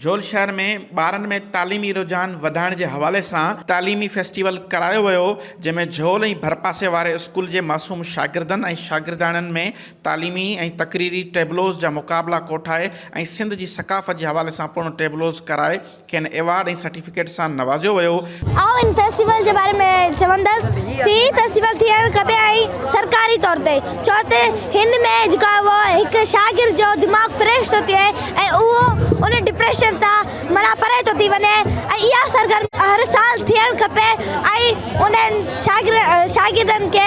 جھول شھر ۾ ٻارن ۾ تعليمي رجحان وڌائڻ جي حوالي سان تعليمي فيسٽيول ڪرايو ويو جنهن ۾ جھول ۽ ڀرپاسي واري اسڪول جي معصوم شاگردن ۽ شاگردياڻين ۾ تعليمي ۽ تقريري ٽيبلوز جا مقابلا ڪوٺائي ۽ سنڌ جي ثقافت جي حوالي سان پڻ ٽيبلوز ڪرائي کين ايوارڊ ۽ سرٽيفڪيٽ سان نوازيو ويو. آئون ان فيسٽيول جي باري ۾ چوندس ته هي فيسٽيول ٿيڻ کپي ۽ سرڪاري طور تي ڇو ته هن ۾ جيڪو آهي اهو هڪ شاگرد جو دماغ فريش ٿو ٿئي ۽ اهو ان ڊپريشن تان معنيٰ پري ٿو ٿي وڃي ۽ اها سرگرمي هر سال ٿيڻ کپي ۽ انهن شاگردن کي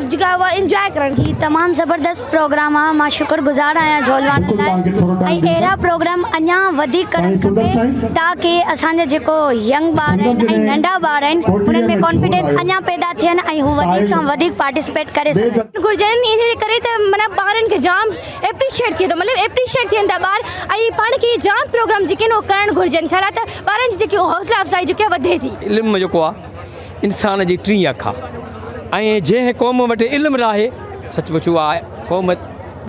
جيڪا اھا انجوائي ڪرڻ جي تمام زبردست پروگرام آ مان شڪر گذار آھيان جھولواڻن لاء ۽ اھڙا پروگرام اڃا وڌيڪ ڪرڻ کپي تاڪي اسان جا جيڪو ينگ ٻار آھن ۽ ننڍا ٻار آھن انھن ۾ ڪانفيڊنس اڃا پيدا ٿين ۽ ھو وڌيڪ سان وڌيڪ پارٽيسپيٽ ڪري سگھن. گھرجن ان جي ڪري ته معنيٰ ٻارن کي جام ايپريشيئيٽ ٿئي ٿو مطلب ايپريشيئيٽ ٿين ٿا ٻار ۽ پاڻ کي جام پروگرام جيڪي آھن اھي ڪرڻ گھرجن ڇالاء ته ٻارن جي جيڪي حوصلا افزائي جيڪي آ وڌي ٿي. علم جيڪو آ انسان جي ٽين اک آ ۽ جنهن قوم وٽ علم ناهي سچ پچ اها قوم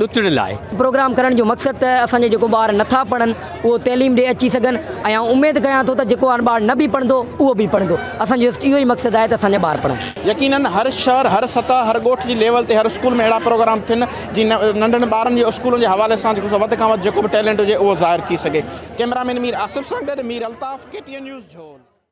ڏتڙيل آهي. پروگرام ڪرڻ جو مقصد ته اسان جا جيڪو ٻار نٿا پڙهن اهو تعليم ڏي اچي سگهن ۽ آئون اميد ڪيان ٿو ته جيڪو هاڻ ٻار نه به پڙهندو اهو به پڙهندو اسان جو جسٽ اهو ئي مقصد آهي ته اسان جا ٻار پڙهن. يقينن هر شهر هر سطح هر ڳوٺ جي ليول تي هر اسڪول ۾ اهڙا پروگرام ٿين جي ننڍن ٻارن جي اسڪولن جي حوالي سان جيڪو سو وڌ کان وڌ جيڪو به ٽيلنٽ هجي اهو ظاهر ٿي سگهي ڪيمرا مين مير آصف سان گڏ Mir Altaf K T N news جهول.